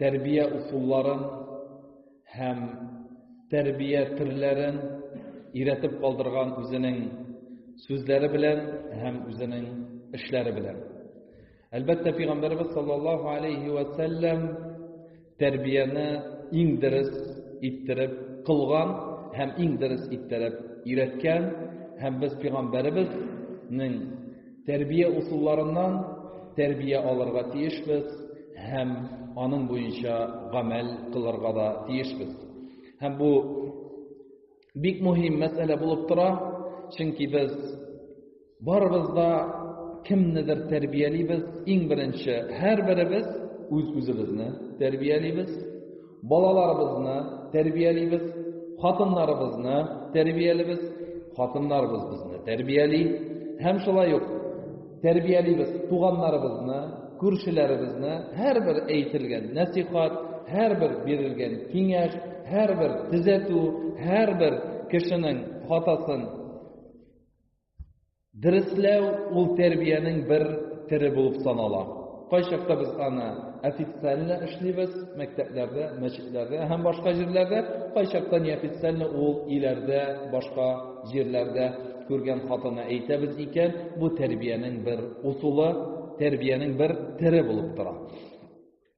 тәрбия усулларын һәм тәрбия төрләрен өйрәтеп калдырган үзенең сүзләре белән һәм үзенең эшләре белән. Әлбәттә, пәйгамбәрбез саллаллаһу алейһи ва саллям тәрбияне иң дөрес иттереп кылган һәм иң дөрес иттереп өйрәткән һәм без пәйгамбәрбезнең Тәрбия усулларыннан тәрбия алырга тиешбез һәм аның буенча гамәл кылырга да тиешбез. Һәм бу бик мөһим мәсьәлә булып тора, чөнки без барыбыз да кемнедер тәрбиялибез, иң беренче һәрберебез үз-үзебезне тәрбиялибез. Балаларыбызны тәрбиялибез, хатыннарыбызны тәрбиялибез, хатыннарыбыз безне тәрбияли һәм шулай ук тәрбиялибез туганнарыбызны, күршеләребезне, һәрбер әйтелгән нәсихат, һәрбер бирелгән киңәш, һәрбер төзәтү, һәрбер кешенең хатасын Дөресләү ул тәрбиянең бер төре булып санала. Кайчакта без аны официально эшлибез, мәктәпләрдә, мәчетләрдә һәм башка җирләрдә, кайчакта неофициально ул өйләрдә, башка җирләрдә күргән хатына әйтәбез икән, бу тәрбиянең бер усулы, тәрбиянең бер төре булып тора.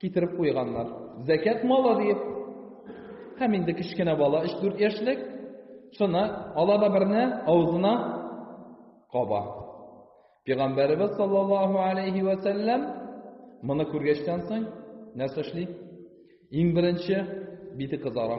Китереп куйганнар. Зәкят малы диеп. Һәм инде кечкенә бала, 3-4 яшьлек, шуны ала да берне авызына каба. Пәйгамбәребез саллаллаһу алейхи ва сәлләм моны күргәчтән соң нәрсә эшли? Иң беренче бите кызара.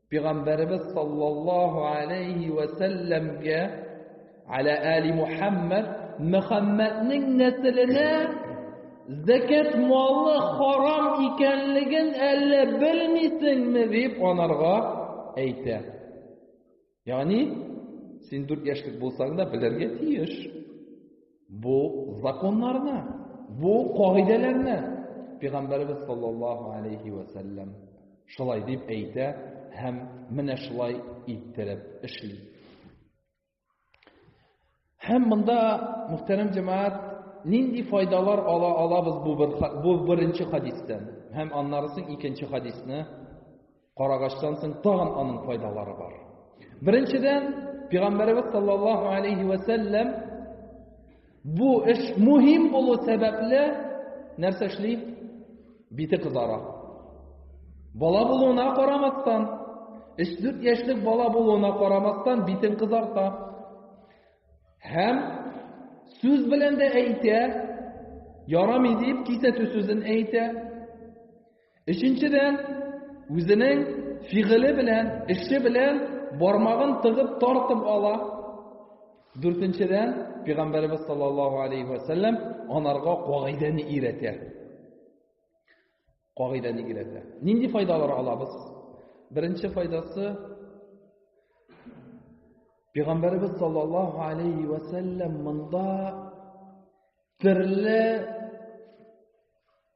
Пәйгамбәребез саллаллаһу алейһи вә сәлләмгә аля али Мухаммад Мөхәммәднең нәселенә зәкәт малы харам икәнлеген әллә белмисеңме дип анарга әйтә. Ягъни син 4 яшьлек булсаң да белергә тиеш. Бу законнарны, бу кагыйдәләрне Пәйгамбәребез саллаллаһу алейхи ва саллям шулай дип әйтә һәм менә шулай иттереп эшли. Һәм монда мөхтәрәм җәмәгать нинди файдалар ала алабыз бу бер бу беренче хадистән һәм аннарысын икенче хадисны Карагачтан соң тагын аның файдалары бар. Беренчедән, Пигамбәребез саллаллаһу алейхи вә сәлләм бу эш мөһим булу сәбәпле нәрсә эшли? Бите кызара. Бала булуына карамастан, 3-4 яшьлек бала булуына карамастан битен кызарта. Һәм сүз белән дә әйтә, ярамый дип кисәтү сүзен әйтә. Өченчедән, үзенең фигыле белән, эше белән бармагын тыгып тартып ала. Дүртенчедән, Пәйгамбәребез саллаллаһу алейһи вә сәлләм анарга кагыйдәне өйрәтә. Кагыйдәне өйрәтә. Нинди файдалар алабыз? Беренче файдасы Пәйгамбәребез саллаллаһу алейһи вә сәлләм монда төрле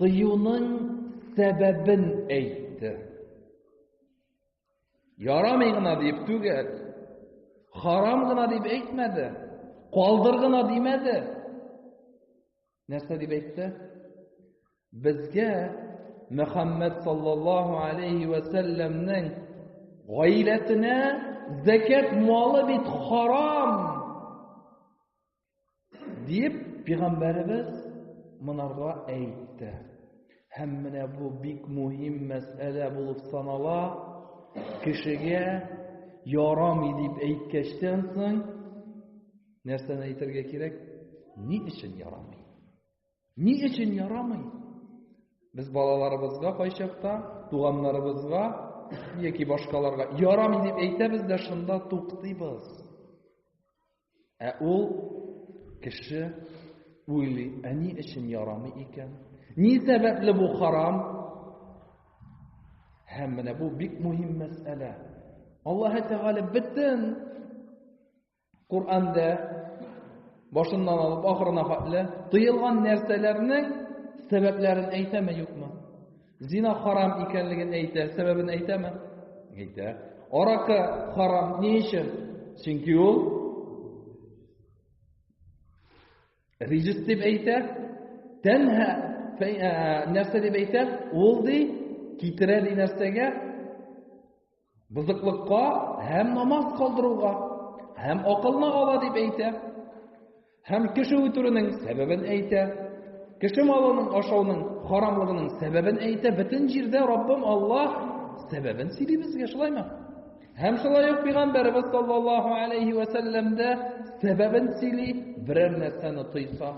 Тыюның сәбәбен әйтте. Ярамый гына дип түгел, харам гына дип әйтмәде, калдыр гына димәде. Нәрсә дип әйтте? Безгә Мөхәммәд саллаллаһу алейхи ва сәлламнең гаиләсенә зәкят малы бит харам. Диеп, пигамбәребез монарга әйтте. Һәм менә бу бик мөһим мәсьәлә булып санала. Кешегә ярамый дип әйткәчтән соң нәрсәне әйтергә кирәк? Ни өчен ярамый? Ни өчен ярамый? Без балаларыбызга кайчакта, туганнарыбызга яки башкаларга ярамый дип әйтәбез дә шунда туктыйбыз. Ә ул кеше уйлый, ә ни өчен ярамый икән? Ни сәбәпле бу харам? Һәм менә бу бик мөһим мәсьәлә. Аллаһ Тәгалә бөтен Коранда башыннан алып ахырына хәтле тыелган нәрсәләрнең сәбәпләрен әйтәме юкмы? Зина харам икәнлеген әйтә. Сәбәбен әйтәме? Әйтә. Аракы харам ни өчен? Чөнки ул рижис дип әйтә. Тәнһә нәрсә дип әйтә? Ул ди китерә ди нәрсәгә? Бозыклыкка һәм намаз калдыруга, һәм акылны ала дип әйтә, һәм кеше үтерүнең сәбәбен әйтә, кеше малының ашауның харамлыгының сәбәбен әйтә, бөтен җирдә Раббым Аллаһ сәбәбен сөйли безгә, шулаймы? Һәм шулай ук пәйгамбәрбез саллаллаһу алейһи ва сәлләм дә сәбәбен сөйли, берәр нәрсәне тыйса,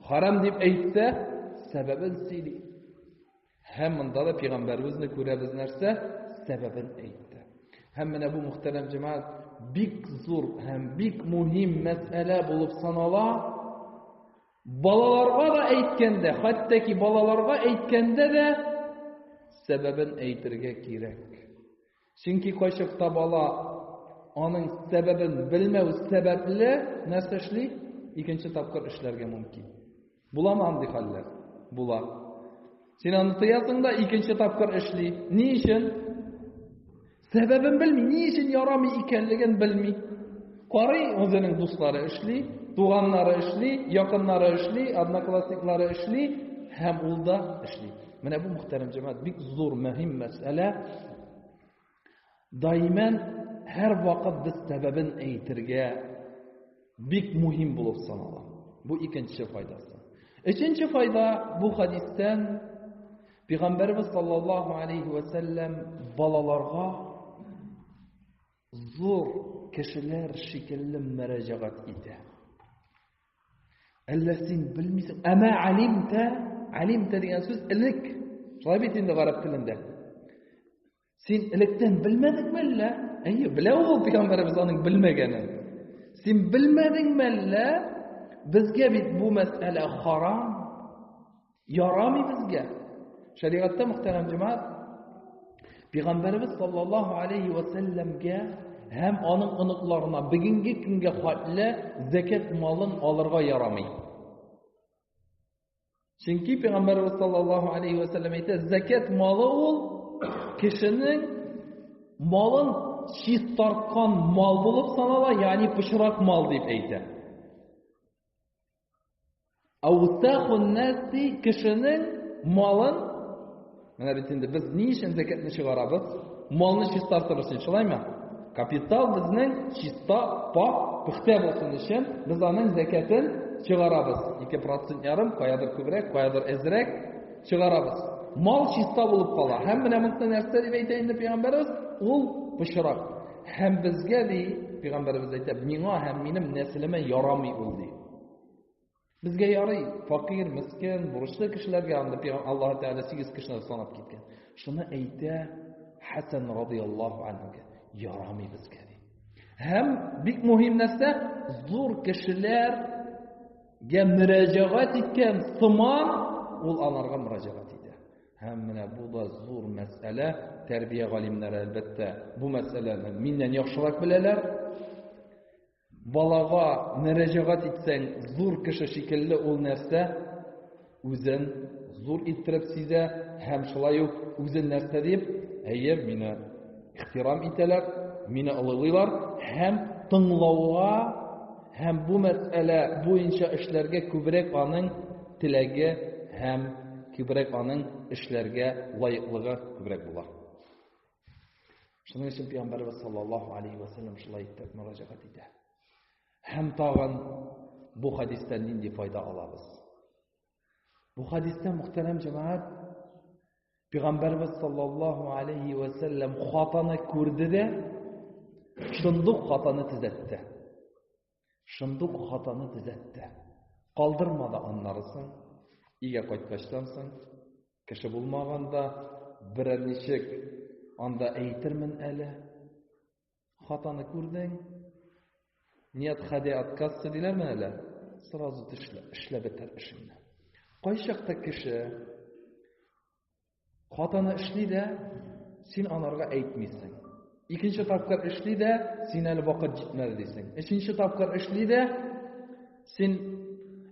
харам дип әйтсә, сәбәбен сөйли. Һәм монда да пигамбәребезне күрәбез нәрсә сәбәбен әйтте. Һәм менә бу мөхтәрәм җәмәгать бик зур һәм бик мөһим мәсьәлә булып санала. Балаларга да әйткәндә, хәтта ки балаларга әйткәндә дә сәбәбен әйтергә кирәк. Чөнки кайчакта бала аның сәбәбен белмәү сәбәпле нәрсә эшли? Икенче тапкыр эшләргә мөмкин. Буламы андый хәлләр? Була. Син аны тыясың да икенче тапкыр эшли. Ни өчен? Сәбәбен белми, ни өчен ярамый икәнлеген белми. Карый үзенең дуслары эшли, туганнары эшли, якыннары эшли, одноклассниклары эшли һәм ул да эшли. Менә бу мөхтәрәм җәмәгать бик зур мөһим мәсьәлә. Дайман һәр вакыт без сәбәбен әйтергә бик мөһим булып санала. Бу икенче файдасы. Өченче файда бу хадистән Пәйгамбәрбез саллаллаһу алейхи ва сәлләм балаларга зур кешеләр шикелле мөрәҗәгать итә. Әллә син белмисең? Әмә алимтә, алимтә дигән сүз элек. Шулай бит инде гарәп телендә. Син электән белмәдеңме әллә? Әйе, белә ул пәйгамбәребез аның белмәгәнен. Син белмәдеңме әллә? Безгә бит бу мәсьәлә харам. Ярамый безгә. Шәригатьтә мөхтәрәм җәмәгать Пәйгамбәрбез саллаллаһу алейхи ва сәлләмгә һәм аның оныкларына бүгенге көнгә хәтле закат малын алырга ярамый. Чөнки Пәйгамбәрбез саллаллаһу алейхи ва сәлләм әйтә, закат малы ул кешенең малын чистарткан мал булып санала, ягъни пычрак мал дип әйтә. Аутахун наси кешенең малын менә бит инде без ни өчен зәкәтне чыгарабыз? Малны чистартыр өчен, шулаймы? Капитал безнең чиста, пак, пөхтә булсын өчен без аның зәкәтен чыгарабыз. 2% ярым, каядыр күбрәк, каядыр әзрәк чыгарабыз. Мал чиста булып кала. Һәм менә монда нәрсә дип әйтә инде пәйгамбәрбез? Ул пычрак. Һәм безгә ди, пәйгамбәребез әйтә, миңа һәм минем нәселемә ярамый ул ди. Безгә ярый, факир, мискин, бурычлы кешеләргә анда пәйгамбер Аллаһ Тәгалә 8 кешене санап киткән. Шуны әйтә Хәсән радиллаһу анһуга, ярамый безгә ди. Һәм бик мөһим нәрсә, зур кешеләргә мөрәҗәгать иткән сыман ул анарга мөрәҗәгать Һәм менә бу да зур мәсьәлә, тәрбия галимнәре әлбәттә бу мәсьәләне миннән яхшырак беләләр. Балага мөрәҗәгать итсәң, зур кеше шикелле ул нәрсә үзен зур иттереп сизә һәм шулай ук үзен нәрсә дип, әйе, мине ихтирам итәләр, мине олылыйлар һәм тыңлауга Һәм бу мәсьәлә буенча эшләргә күбрәк аның теләге һәм күбрәк аның эшләргә лаеклыгы күбрәк була. Шуның өчен Пәйгамбәрбез саллаллаһу алейхи ва саллям шулай итеп мөрәҗәгать итә. Һәм тагын бу хадистан нинди файда алабыз? Бу хадистә мөхтәрәм җәмәгать Пәйгамбәрбез саллаллаһу алейхи ва сәлләм хатаны күрде дә шундук хатаны төзәтте. Шундук хатаны төзәтте. Калдырмады аннарысын. Игә кайткачтан соң кеше булмаганда берәр ничек анда әйтермен әле. Хатаны күрдең, нет ходи от кассы диләрме әле? Сразу тешлә, эшләп бетәр эшеңне. Кайчакта кеше хатаны эшли дә, син анарга әйтмисең. Икенче тапкыр эшли дә, син әле вакыт җитмәде дисең. Өченче тапкыр эшли дә, син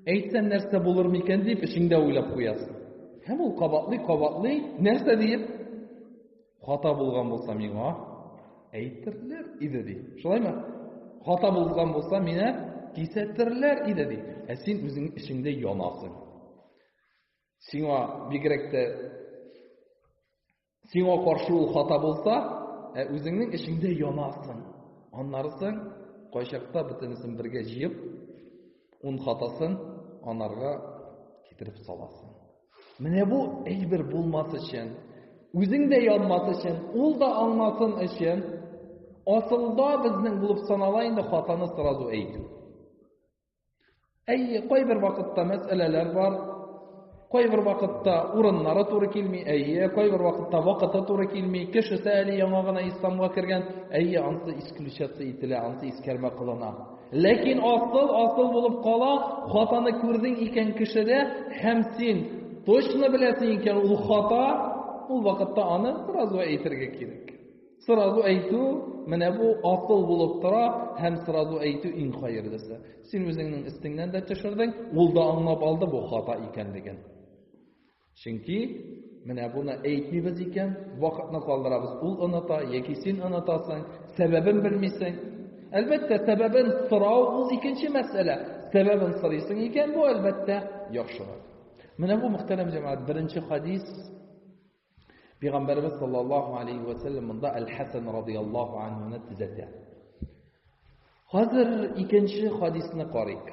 әйтсәң нәрсә булыр микән дип эчеңдә уйлап куясың. Һәм ул кабатлый, кабатлый, нәрсә диеп? Хата булган булса миңа әйтерләр иде ди. Шулаймы? Хата булган булса мине кисәтерләр иде ди. Ә син үзең эчеңдә янасың. Сиңа бигрәк тә сиңа каршы ул хата булса, ә үзеңнең эчеңдә янасың. Аннарысын кайчакта бөтенесен бергә җыеп, ун хатасын анарга китереп саласың. Менә бу әйбер булмас өчен, үзең дә янмас өчен, ул да аңласын өчен, асылда безнең булып санала инде хатаны сразу әйтү. Әйе, кайбер вакытта мәсьәләләр бар, кайбер вакытта урыннары туры килми, әйе, кайбер вакытта вакыты туры килми, кешесе әле яңа гына исламга кергән, әйе, ансы исключаться ителә, ансы искәрмә кылына. Ләкин асыл асыл булып кала, хатаны күрдең икән кешедә һәм син точно беләсең икән ул хата, ул вакытта аны сразу әйтергә кирәк. Сразу әйтү менә бу асыл булып тора һәм сразу әйтү иң хәерлесе. Син үзеңнең өстеңнән дә төшердең, ул да аңлап алды бу хата икәнлеген. Чөнки, менә буны әйтмибез икән, вакытны калдырабыз, ул оныта яки син онытасың, сәбәбен белмисең. Әлбәттә, сәбәбен сорау ул икенче мәсьәлә. Сәбәбен сорыйсың икән, бу әлбәттә яхшырак. Менә бу мөхтәрәм җәмәгать беренче хадис Пәйгамбәрбез саллаллаһу алейхи ва сәлләм монда Әл-Хәсән радияллаһу анһуны төзәтә. Хәзер икенче хадисны карыйк.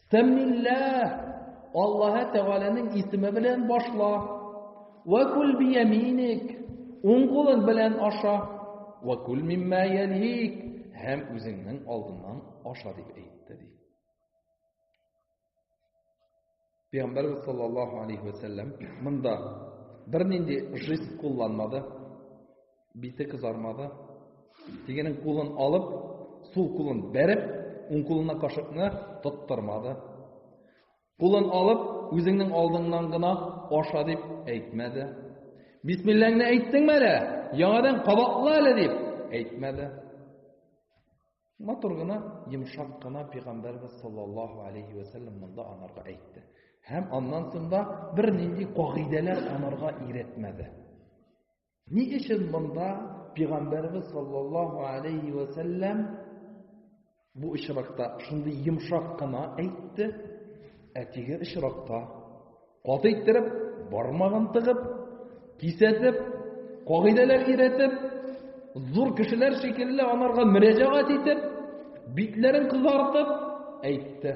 Сәммиллә Аллаһы Тәгаләнең исеме белән башла. Ва кул бияминик. Уң кулың белән аша. Ва кул мимма ялик. Һәм үзеңнең алдыңнан аша дип әйтте ди. Пәйгамбәр саллаллаһу алейһи ва сәлләм монда бернинди жест кулланмады. Бите кызармады. Тегенең кулын алып, сул кулын бәреп, уң кулына кашыкны тоттырмады. Кулын алып, үзеңнең алдыңнан гына аша дип әйтмәде. Бисмилләңне әйттеңме әле? Яңадан кабатла әле дип әйтмәде. Матур гына, йомшак кына пәйгамбәрбез саллаллаһу алейхи ва саллям монда анарга әйтте. Һәм аннан соң да бер нинди кагыйдәләр анарга иретмәде. Ни өчен монда пигамбәрбез саллаллаһу алейһи вә сәлләм бу очракта шундый йомшак кына әйтте, ә теге очракта каты иттереп, бармагын тыгып, кисәтеп, кагыйдәләр өйрәтеп, зур кешеләр шикелле анарга мөрәҗәгать итеп, битләрен кызартып әйтте.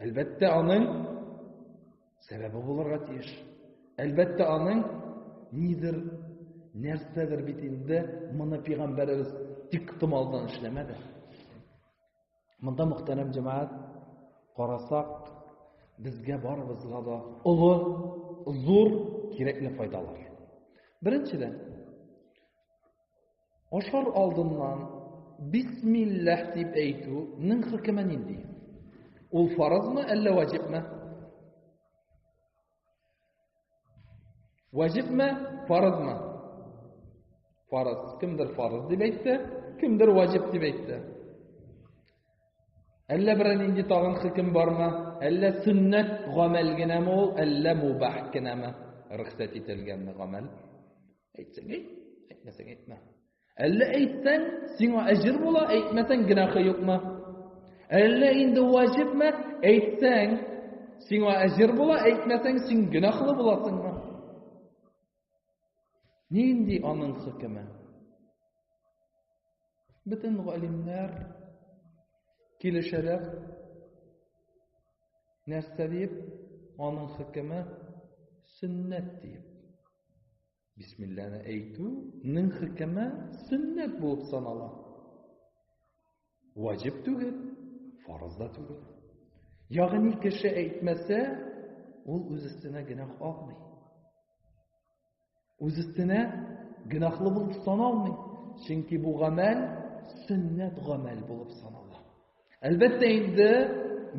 Әлбәттә, аның сәбәбе булырга тиеш. Әлбәттә, аның нидер, нәрсәдер бит инде моны пәйгамбәребез тик томалдан эшләмәде. Монда мөхтәрәм җәмәгать карасак, безгә барыбызга да олы, зур кирәкле файдалар. Беренчедән, Ашар алдыннан бисмилләһ дип әйтү нең хөкеме нинди? Ул фаразмы, әллә ваҗибме? Ваҗибме, фаразмы? Фараз. Кемдер фараз дип әйтте, кемдер ваҗиб дип әйтте. Әллә берәр нинди тагын хөкем бармы? Әллә сөннәт гамәл генәме ул, әллә мубах генәме? Рөхсәт ителгәнме гамәл? Әйтсәң әйт, әйтмәсәң әйтмә. Әллә әйтсәң, сиңа әҗер була, әйтмәсәң генахы юкмы? Әллә инде ваҗибме? Әйтсәң, сиңа әҗер була, әйтмәсәң син генахлы буласыңмы? Нинди аның хөкеме? Бөтен галимнәр килешәләр. Нәрсә дип? Аның хөкеме сөннәт дип. Бисмилләне әйтү ның хөкеме сөннәт булып санала. Ваҗиб түгел, фарыз да түгел. Ягъни кеше әйтмәсә, ул үз өстенә генә алмый. Үз өстенә гөнаһлы булып саналмый. Чөнки бу гамәл сөннәт гамәл булып санала. Әлбәттә инде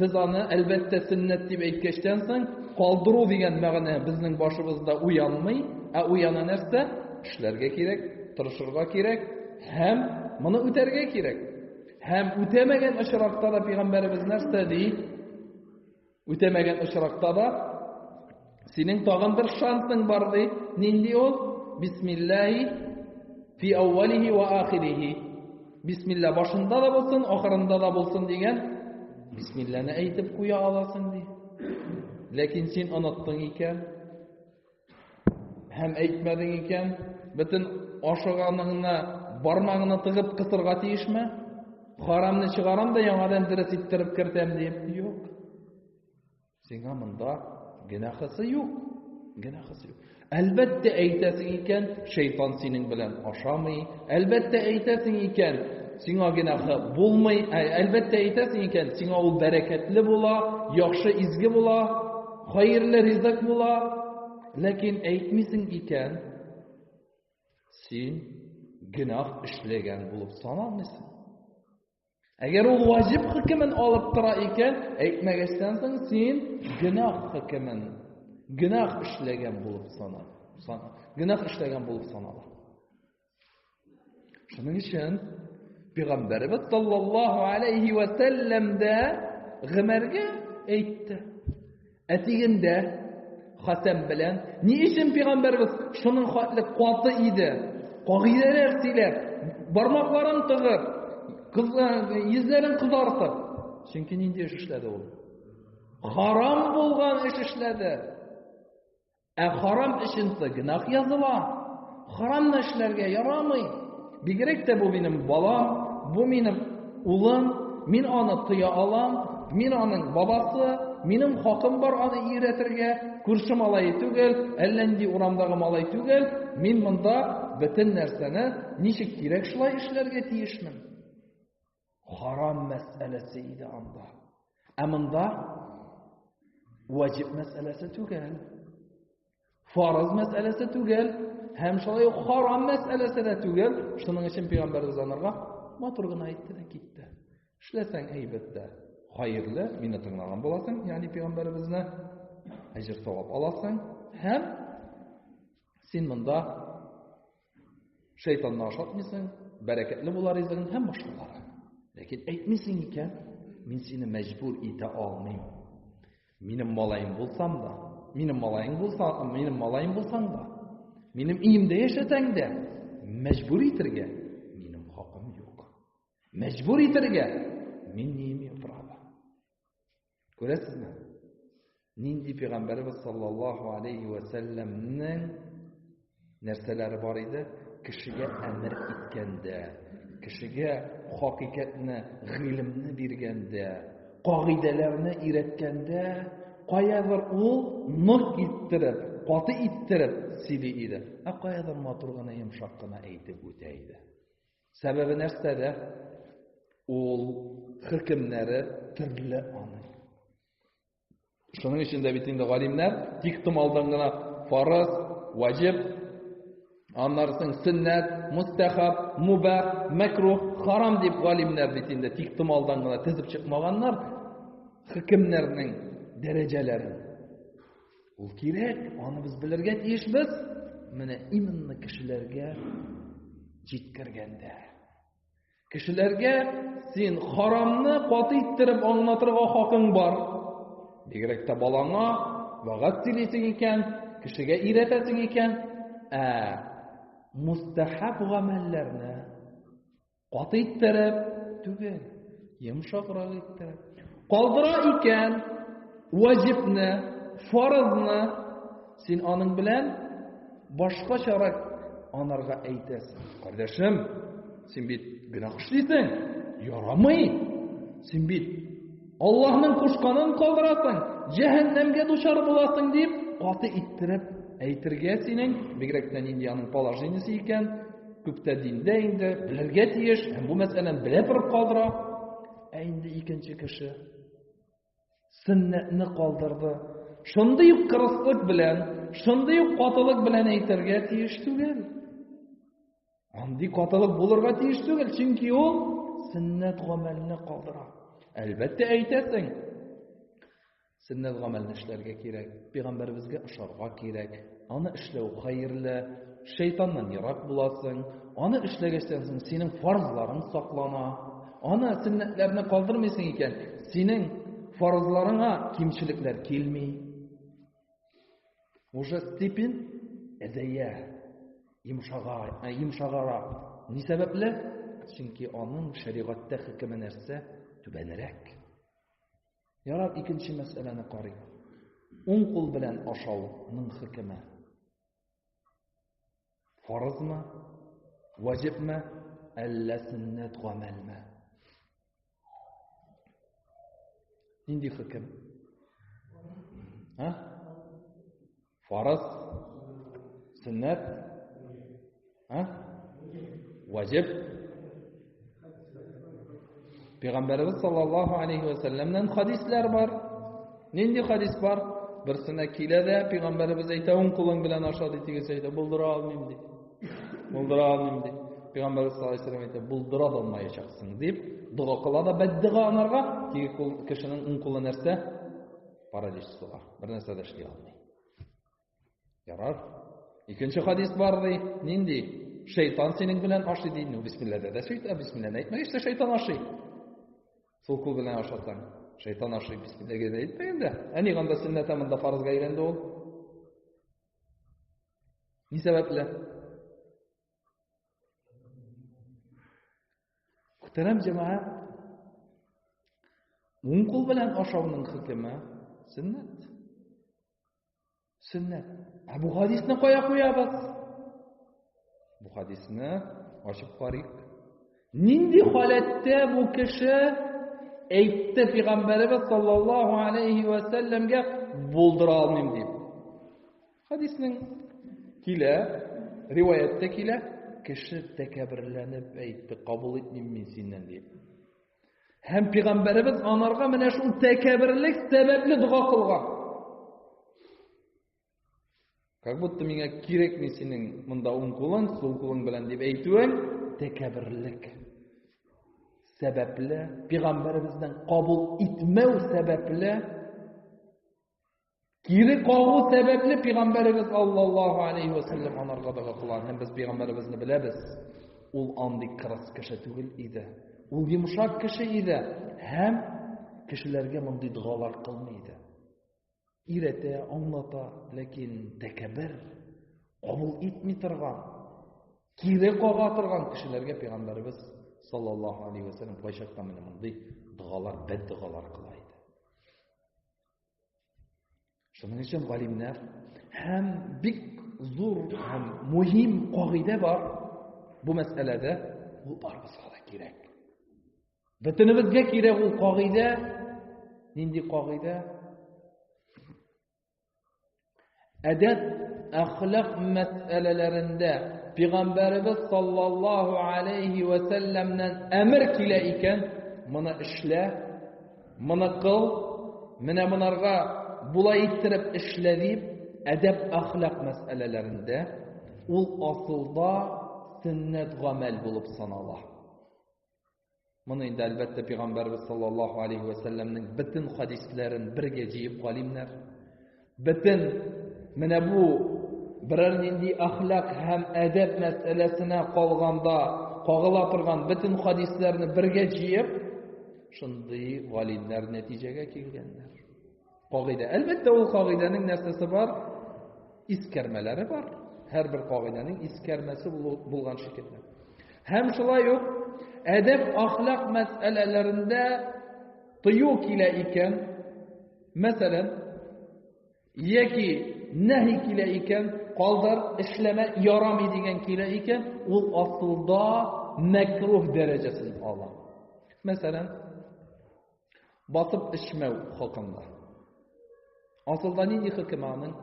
без аны әлбәттә сөннәт дип әйткәчтән соң калдыру дигән мәгънә безнең башыбызда уянмый, ә уяна нәрсә? Эшләргә кирәк, тырышырга кирәк һәм моны үтәргә кирәк. Һәм үтәмәгән очракта да пәйгамбәребез нәрсә ди? Үтәмәгән очракта да, синең тагын бер шансың бар, ди. Нинди ул? Бисмиллаһи фи әүвәлихи ва ахирихи. Бисмилла башында да булсын, ахырында да булсын дигән бисмилланы әйтеп куя аласың, ди. Ләкин син оныттың икән. Һәм әйтмәдең икән, бөтен ашыганыңны бармагына тыгып кысырга тиешме? Харамны чыгарам да яңадан дөрес иттереп кертәм дип. Юк. Сиңа монда генахысы юк. Генахысы юк. Әлбәттә әйтәсең икән, шайтан синең белән ашамый. Әлбәттә әйтәсең икән, сиңа генахы булмый. Әлбәттә әйтәсең икән, сиңа ул бәрәкәтле була, яхшы изге була. Хәерле ризык була, ләкин әйтмисең икән, син гөнаһ эшләгән булып саналмыйсың. Әгәр ул ваҗиб хөкемен алып тора икән, әйтмәгәчтән соң син гөнаһ хөкемен, гөнаһ эшләгән булып санал. Гөнаһ эшләгән булып санала. Шуның өчен Пәйгамбәрбез саллаллаһу алейхи ва сәлләм дә Гомәргә әйтте. Әтигендә Хәсән белән ни өчен Пәйгамбәрбез шуның хатлы каты иде? Кагыйдәләр сөйләп, бармакларын тыгып, йөзләрен кызартып. Чөнки нинди эш эшләде ул? Харам булган эш эшләде. Ә харам эченсә гөнаһ языла. Харамны эшләргә ярамый. Бигрәк тә бу минем балам, бу минем улым, мин аны тыя алам, мин аның бабасы, минем хакым бар аны өйрәтергә, күрше малае түгел, әллә нинди урамдагы малай түгел, мин монда бөтен нәрсәне ничек кирәк шулай эшләргә тиешмен. Харам мәсьәләсе иде анда. Ә монда ваҗиб мәсьәләсе түгел. Фарыз мәсьәләсе түгел. Һәм шулай ук харам мәсьәләсе дә түгел. Шуның өчен пәйгамбәрбез анарга матур гына әйтте дә китте. Эшләсәң әйбәттә, хайырлы, мине тыңлаган буласың, ягъни пәйгамбәребезне әҗер савап аласың һәм син монда Шайтанны ашатмыйсың, бәрәкәтле була ризыгың һәм башкалары. Ләкин әйтмисең икән, мин сине мәҗбүр итә алмыйм. Минем малаем булсам да, минем малаең булса, минем малаем булсаң да, минем иемдә яшәсәң дә, мәҗбүр итергә минем хакым юк. Мәҗбүр итергә мин не имею права. Күрәсезме? Нинди пәйгамбәрбез саллаллаһу алейхи ва сәлламнең нәрсәләре бар иде? Кешегә әмер иткәндә, кешегә хакыйкатьне, гыйлемне биргәндә, кагыйдәләрне өйрәткәндә, каядыр ул нык иттереп, каты иттереп сөйли иде. Ә каядыр матур гына, йомшак кына әйтеп үтә иде. Сәбәбе нәрсәдә? Ул хөкемнәре төрле аны. Шуның өчен дә бит инде галимнәр тик тым алдан гына фарыз, ваҗиб, аннарсың сөннәт, мустахаб, муба, мәкрух, харам дип галимнәр бит инде тик тым алдан гына тезеп чыкмаганнар хөкемнәрнең дәрәҗәләрен. Ул кирәк, аны без белергә тиешбез. Менә именно кешеләргә җиткергәндә. Кешеләргә син харамны каты иттереп аңлатырга хакың бар. Бигрәк тә балаңа вагат сөйлисең икән, кешегә өйрәтәсең икән, ә мустахаб гамәлләрне Каты иттереп түгел, йомшаграк иттереп. Калдыра икән ваҗибне, фарызны син аның белән башкачарак анарга әйтәсең. Кардәшем, син бит гөнаһ эшлисең, ярамый. Син бит Аллаһның кушканын калдырасың, җәһәннәмгә дучар буласың дип, каты иттереп әйтергә синең, бигрәк тә нинди аның положениесе икән, күптә диндә инде, белергә тиеш, һәм бу мәсьәләне белә торып калдыра. Ә инде икенче кеше сөннәтне калдырды. Шундый ук кырыслык белән, шундый ук катылык белән әйтергә тиеш түгел. Андый катылык булырга тиеш түгел, чөнки ул сөннәт гамәлне калдыра. Әлбәттә әйтәсең. Сөннәт гамәлне эшләргә кирәк, пәйгамбәребезгә ошарга кирәк. Аны эшләү хәерле, шайтаннан ерак буласың. Аны эшләгәчтән соң синең фарзларың саклана. Аны сөннәтләрне калдырмыйсың икән, синең фарзларыңа кимчелекләр килми. Уже степень әзәя, йомшагар, ә, йомшагарак. Ни сәбәпле? Чөнки аның шәригатьтә хөкеме нәрсә? Түбәнрәк. Ярар, икенче мәсьәләне карыйк. Уң кул белән ашауның хөкеме. Фарызмы? Ваҗибме? Әллә сөннәт гамәлме? Нинди хөкем? А? Фарыз, сөннәт, а? Ваҗиб, Пәйгамбәрбез саллаллаһу алейһи ва сәлламнән хадислар бар. Нинди хадис бар? Берсенә килә дә пәйгамбәрбез әйтә, уң кулың белән аша ди тигез әйтә, булдыра алмыйм ди. Булдыра алмыйм ди. Пәйгамбәрбез саллаллаһу алейһи ва сәллам әйтә, булдыра да алмаячаксың дип, дога кыла да бәддига анарга, теге кул кешенең уң кулы нәрсә? Паралич суга. Бер нәрсә дә эшли алмый. Ярар. Икенче хадис бар ди. Нинди? Шайтан синең белән ашый ди. Ну, бисмиллада да сөйт, ә бисмиллада әйтмәгәч тә шайтан ашый. Сулку белән ашасаң, шайтан ашый бисмиллага да әйтмәгән дә. Ә ни ганда сөннәтә монда фарызга әйләнде ул? Ни сәбәпле? Күтәрәм җәмәгать. Уң кул белән ашауның хөкеме сөннәт. Сөннәт. Ә бу хадисны кая куябыз? Бу хадисны ачып карыйк. Нинди халәттә бу кеше әйтте пәйгамбәребез саллаллаһу алейхи ва сәлләмгә булдыра алмыйм дип. Хадисның килә, риваятьтә килә, кеше тәкәберләнеп әйтте, кабул итмим мин синнән дип. Һәм пигамбәребез анарга менә шул тәкәберлек сәбәпле дога кылган. Как будто миңа кирәкми синең монда уң кулың, сул кулың белән дип әйтүең тәкәберлек сәбәпле, пигамбәребезнең кабул итмәү сәбәпле Кире кагу сәбәпле пәйгамбәребез аллаллаһу алейхи ва саллям анарга дога кылган. Һәм без пәйгамбәребезне беләбез. Ул андый кырыс кеше түгел иде. Ул йомшак кеше иде һәм кешеләргә мондый догалар кылмый иде. Иретә, аңлата, ләкин тәкәббер, кабул итми торган, кире кага торган кешеләргә пәйгамбәребез саллаллаһу алейхи ва саллям кайчакта менә мондый догалар, бәд догалар кыла иде. Шуның өчен галимнәр һәм бик зур һәм мөһим кагыйдә бар бу мәсьәләдә, ул барыбызга да кирәк. Бөтенебезгә кирәк ул кагыйдә. Нинди кагыйдә? Әдәп, әхлак мәсьәләләрендә пигамбәребез саллаллаһу алейһи ва сәлләмнән әмер килә икән, моны эшлә, моны кыл, менә монарга була иттереп эшлә дип, әдәп, әхлак мәсьәләләрендә ул асылда сөннәт гамәл булып санала. Моны инде әлбәттә пәйгамбәрбез саллаллаһу алейхи ва сәлләмнең бөтен хадисләрен бергә җыеп галимнәр бөтен менә бу берәр нинди әхлак һәм әдәп мәсьәләсенә калганда кагыла торган бөтен хадисләрне бергә җыеп шундый галимнәр нәтиҗәгә килгәннәр. Кагыйдә. Әлбәттә, ул кагыйдәнең нәрсәсе бар? Искәрмәләре бар. Һәрбер кагыйдәнең искәрмәсе булган шикелле. Һәм шулай ук әдәп ахлак мәсьәләләрендә тыю килә икән, мәсәлән, яки нәһи килә икән, калдыр, эшләмә, ярамый дигән килә икән, ул асылда мәкруһ дәрәҗәсен ала. Мәсәлән, Басып эчмәү хакында. Асылда нинди хөкем аның?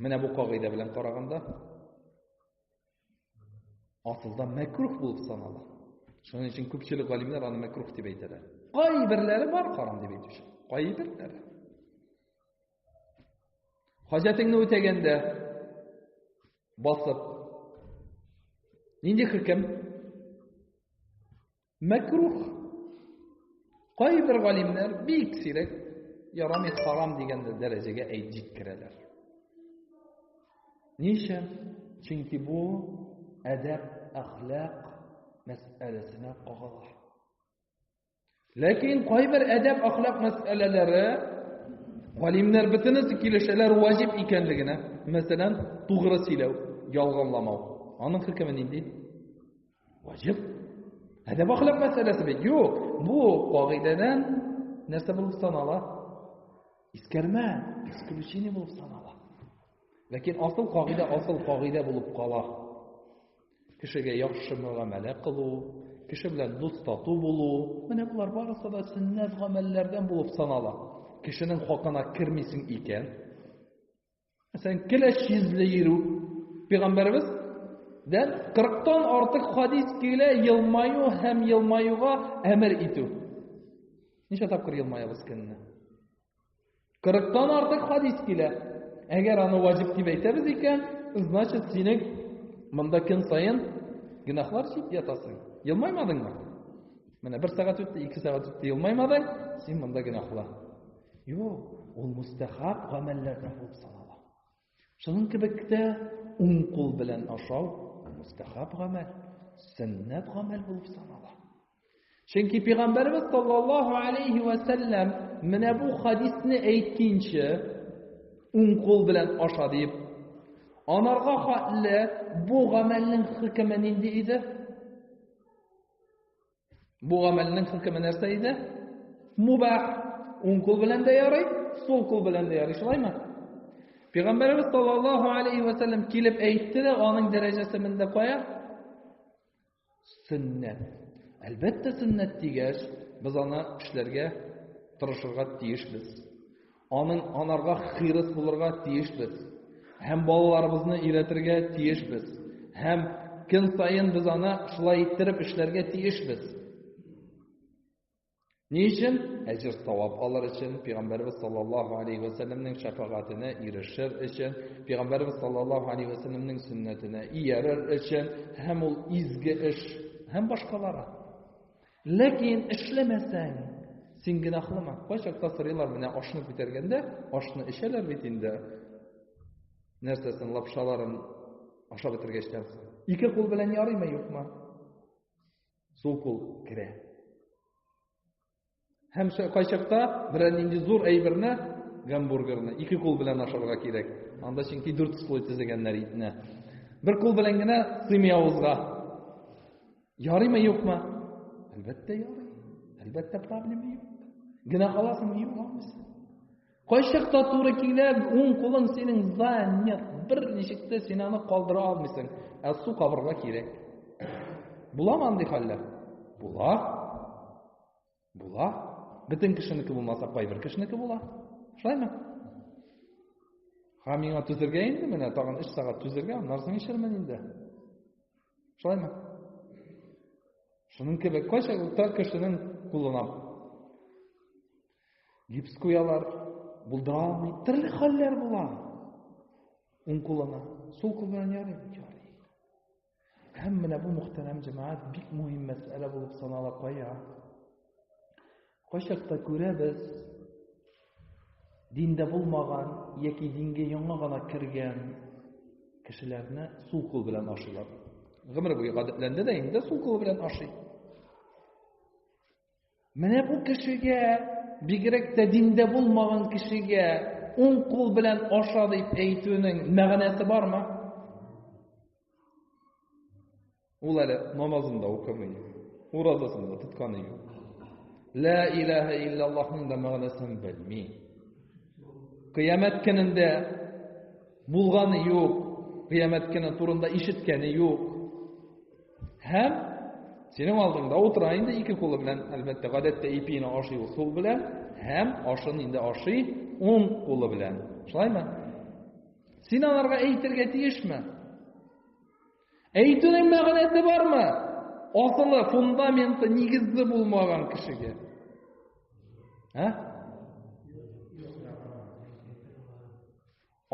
Менә бу кагыйдә белән караганда асылда мәкрух булып санала. Шуның өчен күпчелек галимнәр аны мәкрух дип әйтәләр. Кайберләре бар харам дип әйтүче. Кайберләре. Хаҗәтеңне үтәгәндә басып нинди хөкем? Мәкрух. Кайбер галимнәр бик сирәк ярамый харам дигән дәрәҗәгә әйт җиткерәләр. Ниша? Чөнки бу әдәп, әхлак мәсьәләсенә кагыла. Ләкин кайбер әдәп, әхлак мәсьәләләре галимнәр бөтенесе килешәләр ваҗиб икәнлегенә. Мәсәлән, тугры сөйләү, ялганламау. Аның хөкеме нинди? Ваҗиб. Әдәп ахлак мәсьәләсе бит. Юк, бу кагыйдәдән нәрсә булып санала? Искәрмә, исключение булып санала. Ләкин асыл кагыйдә асыл кагыйдә булып кала. Кешегә яхшы мөгамәлә кылу, кеше белән дус тату булу, менә болар барысы да сөннәт гамәлләрдән булып санала. Кешенең хакына кермисең икән, Мәсәлән, киләч йөзле йөрү. Пәйгамбәрбез дә 40 тан артык хадис килә елмаю һәм елмаюга әмер итү. Ничә тапкыр елмаябыз көнне? 40 тан артык хадис килә. Әгәр аны ваҗиб дип әйтәбез икән, значит, синең монда көн саен гөнаһлар чит ятасың. Елмаймадыңмы? Менә бер сәгать үтте, ике сәгать үтте, елмаймадың, син монда гөнаһлы. Юк, ул мустәхаб гамәлләрдә булып санала. Шуның кебек тә уң кул белән ашау мустәхаб гамәл, сөннәт гамәл булып санала. Чөнки пәйгамбәрбез саллаллаһу алейхи ва сәлләм менә бу хадисне әйткәнче уң кул белән аша дип анарга хатле бу гамәлнең хөкеме нинди иде? Бу гамәлнең хөкеме нәрсә иде? Мубах. Уң кул белән дә ярый, сул кул белән дә ярый. Шулаймы? Пәйгамбәрбез саллаллаһу алейхи ва саллям килеп әйтте дә, аның дәрәҗәсе монда кая? Сөннәт. Әлбәттә, сөннәт дигәч, без аны эшләргә тырышырга тиешбез. Аның анарга хирыс булырга тиешбез һәм балаларыбызны өйрәтергә тиешбез һәм көн саен без аны шулай иттереп эшләргә тиешбез. Ни өчен? Әҗер савап алыр өчен, Пәйгамбәрбез саллаллаһу алейхи ва сәлләмнең шәфагатенә ирешер өчен, Пәйгамбәрбез саллаллаһу алейхи ва сәлләмнең сөннәтенә иярер өчен һәм ул изге эш һәм башкалары. Ләкин эшләмәсәң, син гөнаһлыма. Кайчакта сорыйлар менә ашны күтәргәндә, ашны эчәләр бит инде. Нәрсәсен лапшаларын ашап бетергәчтән соң. Ике кул белән ярыймы, юкмы? Сул кул керә. Һәм кайчакта берәр нинди зур әйберне, гамбургерны ике кул белән ашарга кирәк. Анда чөнки дүрт слой тезегәннәр итне. Бер кул белән генә сыймый авызга. Ярыймы юкмы? Әлбәттә ярый. Әлбәттә проблема юк. Генә каласың юк алмыйсың. Кайчакта туры килә, уң кулың синең за нет. Бер ничек тә син аны калдыра алмыйсың. Ә су кабырга кирәк. Буламы андый хәлләр? Була. Була. Бөтен кешенеке булмаса, кайбер кешенеке була. Шулаймы? Һәм миңа түзергә инде менә тагын 3 сәгать түзергә, аннан соң ишермен инде. Шулаймы? Шуның кебек кайча тар кешенең кулына гипс куялар, булдыра алмый, төрле хәлләр була. Уң кулына, сул кулына ярый, ярый. Һәм менә бу мөхтәрәм җәмәгать бик мөһим мәсьәлә булып санала кая. Кайчакта күрәбез, диндә булмаган яки дингә яңа гына кергән кешеләрне сул кул белән ашыйлар. Гомер буе гадәтләнде дә инде сул кул белән ашый. Менә бу кешегә, бигрәк тә диндә булмаган кешегә, уң кул белән аша дип әйтүнең мәгънәсе бармы? Ул әле намазын да укымый, уразасын да тотканы юк. Лә илаһа иллаллаһның да мәгънәсен белми. Кыямәт көнендә булганы юк, кыямәт көне турында ишеткәне юк. Һәм синең алдыңда утыра инде ике кулы белән, әлбәттә, гадәттә ипине ашый ул сул белән, һәм ашын инде ашый ун кулы белән. Шулаймы? Син аларга әйтергә тиешме? Әйтүнең мәгънәсе бармы? Асылы, фундаменты, нигезе булмаган кешегә. Ә?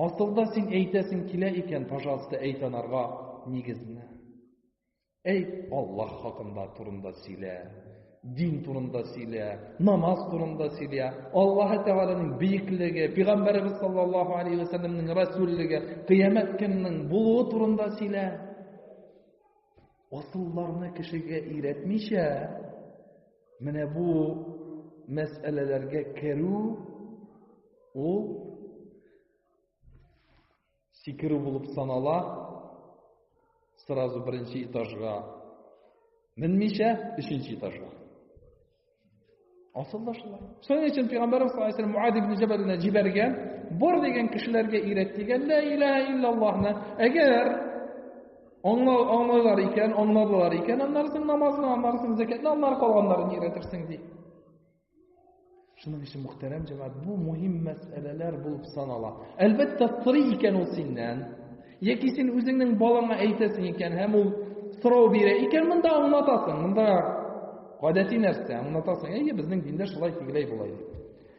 Асылда син әйтәсең килә икән, пожалуйста, әйт анарга нигезне. Әйт, Аллаһ хакында турында сөйлә, дин турында сөйлә, намаз турында сөйлә, Аллаһ Тәгаләнең бөеклеге, Пәйгамбәребез саллаллаһу алейһи ва сәлләмнең рәсүллеге, кыямәт көннең булуы турында сөйлә. Асылларны кешегә өйрәтмичә, Менә бу мәсьәләләргә керү ул сикерү булып санала. Сразу беренче этажга менмичә, өченче этажга. Асылда шулай. Шуның өчен Пәйгамбәрбез саллаллаһу алейһи ва сәлләм Муад ибн Җабалны җибәргән, бар дигән кешеләргә өйрәт дигән, ла илаһа иллаллаһны. Әгәр Аңлар, аңларлар икән, аңларлар икән, аннарсын намазны, аннарсын зәкәтне, аннар калганнарын өйрәтерсең ди. Шуның өчен мөхтәрәм җәмәгать, бу мөһим мәсьәләләр булып санала. Әлбәттә, сорый икән ул синнән, яки син үзеңнең балаңа әйтәсең икән, һәм ул сорау бирә икән, монда аңлатасың, монда гадәти нәрсә, аңлатасың. Әйе, безнең диндә шулай тигеләй була иде.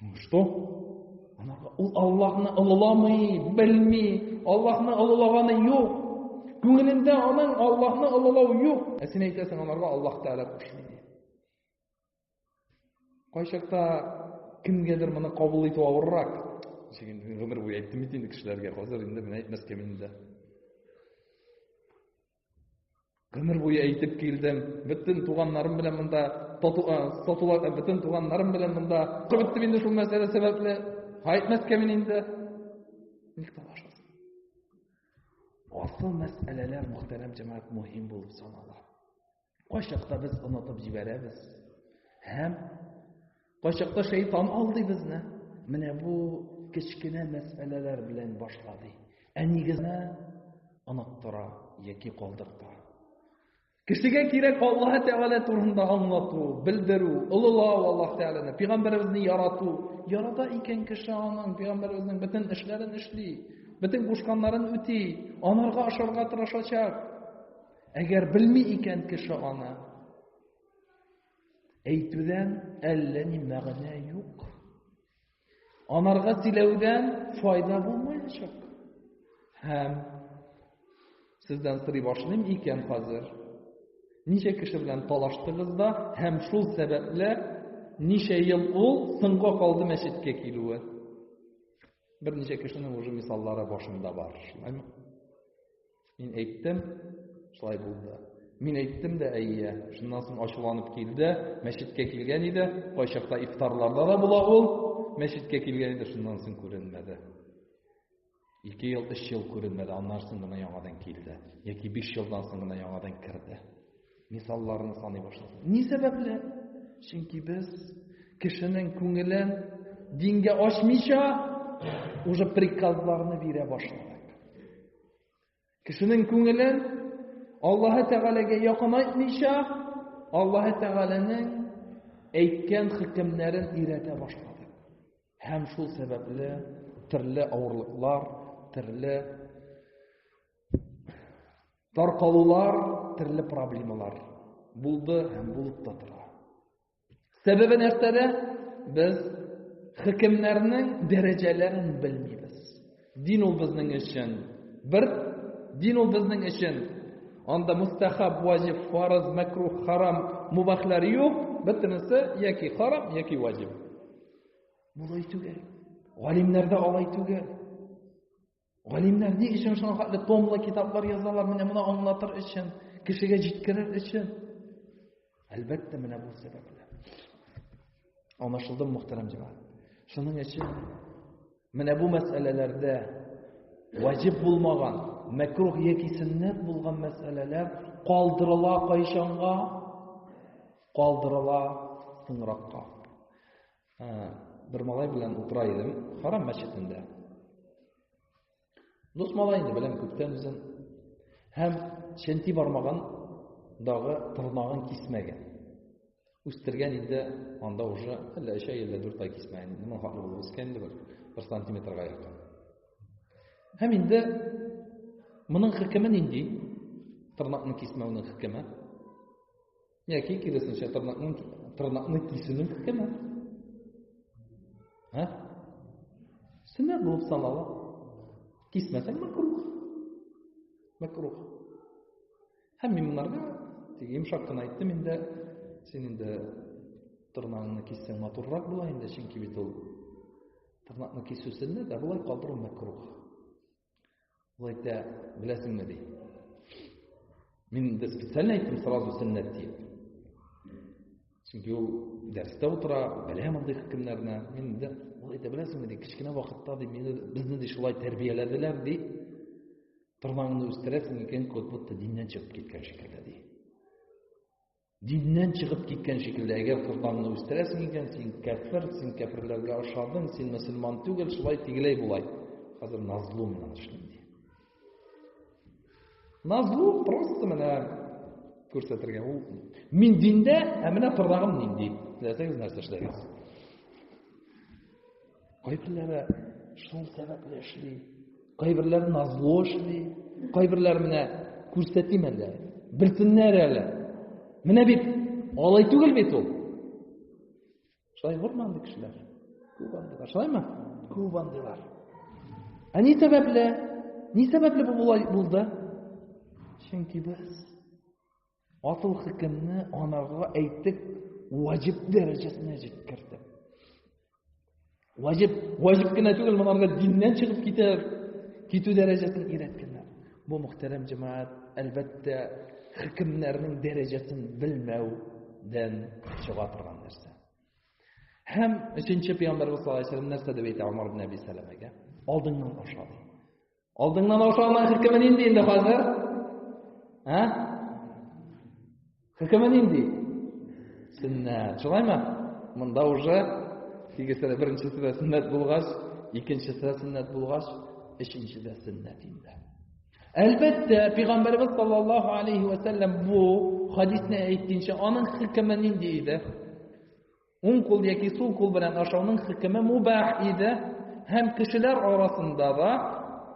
Ну что? Анарга ул Аллаһны олыламый, белми, Аллаһны олылаганы юк. Күңелендә аның Аллаһны олылау юк. Ә син әйтәсең, анарга Аллаһ Тәгалә кушмый ди. Кайчакта кемгәдер моны кабул итү авыррак. Чеген гомер буе әйттем бит инде кешеләргә, хәзер инде мен әйтмәскә мин дә. Гомер буе әйтеп килдем, бөтен туганнарым белән монда сатулар, бөтен туганнарым белән монда кебеттем инде шул мәсьәлә сәбәпле. Кайтмәскә мин инде. Ник талашасың? Асыл мәсьәләләр, мөхтәрәм җәмәгать, мөһим булып санала. Кайчакта без онытып җибәрәбез. Һәм кайчакта шайтан алдый безне. Менә бу кечкенә мәсьәләләр белән башлады. Ә нигезне оныттыра яки калдырта. Кешегә кирәк Аллаһ Тәгалә турында аңлату, белдерү, олылау Аллаһ Тәгаләне, пәйгамбәребезне ярату. Ярата икән кеше аның пәйгамбәребезнең бөтен эшләрен эшли, бөтен кушканнарын үти, анарга ашарга тырышачак. Әгәр белми икән кеше аны, әйтүдән әллә ни мәгънә юк. Анарга тиләүдән файда булмаячак. Һәм сездән сорый башлыйм икән хәзер. Ничә кеше белән талаштыгыз да һәм шул сәбәпле ничә ел ул соңга калды мәчеткә килүе? Берничә кешенең уже мисаллары башында бар, шулаймы? Мин әйттем, шулай булды. Мин әйттем дә, әйе. Шуннан соң ачуланып килде, мәчеткә килгән иде. Кайчакта ифтарларда да була ул. Мәчеткә килгән иде, шуннан соң күренмәде. Ике ел, өч ел күренмәде, аннан соң гына яңадан килде. Яки биш елдан соң гына яңадан керде. Мисалларны саный башладым. Ни сәбәпле? Чөнки без кешенең күңелен дингә ачмыйча уже приказларны бирә башладык. Кешенең күңелен Аллаһы Тәгаләгә якынайтмыйча, Аллаһы Тәгаләнең әйткән хөкемнәрен өйрәтә башлады. Һәм шул сәбәпле төрле авырлыклар, төрле таркалулар, төрле проблемалар булды һәм булып та тора. Сәбәбе нәрсәдә? Без хөкемнәрнең дәрәҗәләрен белмибез. Дин ул безнең өчен бер, дин ул безнең өчен анда мустахаб, ваҗиб, фарыз, макрух, харам, мубахлар юк, бөтенесе яки харам, яки ваҗиб. Булай түгел. Галимнәрдә алай түгел. Галимнәр ни өчен шуңа хәтле томлы китаплар язалар, менә моны аңлатыр өчен, кешегә җиткерер өчен. Әлбәттә, менә бу сәбәп белән. Анашылдым, мөхтәрәм җәмәгать. Шуның өчен менә бу мәсьәләләрдә ваҗиб булмаган, мәкрух яки сөннәт булган мәсьәләләр калдырыла кайчанга, калдырыла соңракка. бер малай белән утыра идем харам мәчетендә дус малай инде беләм күптән үзен һәм ченти бармагындагы тырнагын кисмәгән үстергән инде анда уже әллә өч ай әллә дүрт ай кисмәгән инде моңа булып үскән инде бер бер сантиметрга якын һәм инде моның хөкеме нинди тырнакны кисмәүнең хөкеме Яки киресенчә тырнакның тырнакны кисүнең хөкеме. Һә? Сөннәт булып санала. Кисмәсәң мәкрух. Мәкрух. Һәм мин монарга тик йомшак кына әйттем инде, син инде тырнагыңны киссәң матуррак була инде, чөнки бит ул тырнакны кисү сөннәт, ә болай калдыру мәкрух. Ул әйтә, беләсеңме ди. Мин инде специально әйттем сразу сөннәт дип. Чөнки ул дәрестә утыра, белә мондый хөкемнәрне. Мин инде ул әйтә, беләсеңме ди, кечкенә вакытта ди, мине безне ди шулай тәрбияләделәр ди. Тырнагыңны үстерәсең икән, кот бутта диннән чыгып киткән шикелле ди. Диннән чыгып киткән шикелле, әгәр корбанны үстерәсең икән, син кәфер, син кәферләргә ошадың, син мөселман түгел, шулай тигеләй булай. Хәзер назлу менә шундый. Назлу просто менә күрсәтергә. Ул мин диндә, ә менә тырнагым нинди. Теләсәгез нәрсә эшләгез. Кайберләре шул сәбәпле эшли, кайберләре назлы эшли, кайберләре менә күрсәтим әле, белсеннәр әле. Менә бит алай түгел бит ул. Шулай булмый андый кешеләр. Күп андыйлар, шулаймы? Күп андыйлар. Ә ни сәбәпле? Ни сәбәпле бу булай булды? Чөнки без Асыл хөкемне анарга әйтеп, ваҗиб дәрәҗәсенә җиткерде. Ваҗиб, ваҗиб кенә түгел, монарга диннән чыгып китәр, китү дәрәҗәсен өйрәткәннәр. Бу мөхтәрәм җәмәгать, әлбәттә, хөкемнәрнең дәрәҗәсен белмәүдән чыга торган нәрсә. Һәм өченче пәйгамбәрбез саллаллаһу алейһи нәрсә дип әйтә Умар ибн Әби Сәләмәгә? Алдыңнан аша. Алдыңнан аша алмай хөкеме нинди инде хәзер? Ә? Хөкеме нинди? Сөннәт. Шулаймы? Монда уже тигезсә беренчесе дә сөннәт булгач, икенчесе дә сөннәт булгач, өченчесе дә сөннәт инде. Әлбәттә, пәйгамбәрбез саллаллаһу алейһи ва сәлләм бу хадисне әйткәнчә, аның хөкеме нинди иде? Уң кул яки сул кул белән ашауның хөкеме мубах иде һәм кешеләр арасында да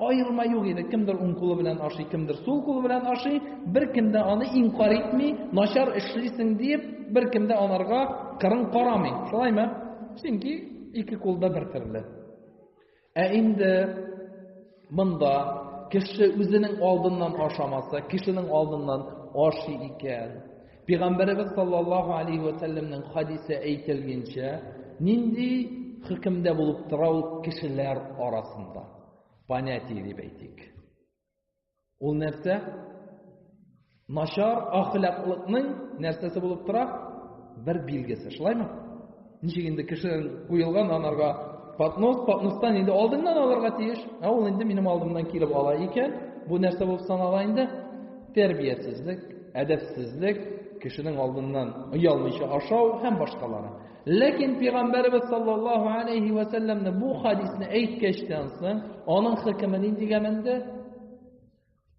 аерма юк иде. Кемдер уң кулы белән ашый, кемдер сул кулы белән ашый, беркем дә аны инкар итми, начар эшлисең диеп, беркем дә анарга кырын карамый. Шулаймы? Чөнки ике кулда бер төрле. Ә инде монда кеше үзенең алдыннан ашамаса, кешенең алдыннан аши икән. Пәйгамбәребез саллаллаһу алейхи ва сәлләмнең хадисе әйтелгәнчә, нинди хөкемдә булып тора ул кешеләр арасында? Понятие дип әйтик. Ул нәрсә? Начар ахлаклыкның нәрсәсе булып тора? Бер билгесе, шулаймы? Ничек инде кеше куелган анарга поднос, подностан инде алдыңнан алырга тиеш. Ә ул инде минем алдымнан килеп ала икән, бу нәрсә булып санала инде? Тәрбиятсезлек, әдәпсезлек, кешенең алдыннан оялмыйча ашау һәм башкалары. Ләкин пәйгамбәрбез саллаллаһу алейһи ва сәлләмне бу хадисне әйткәчтән соң, аның хөкеме ниндигә менде?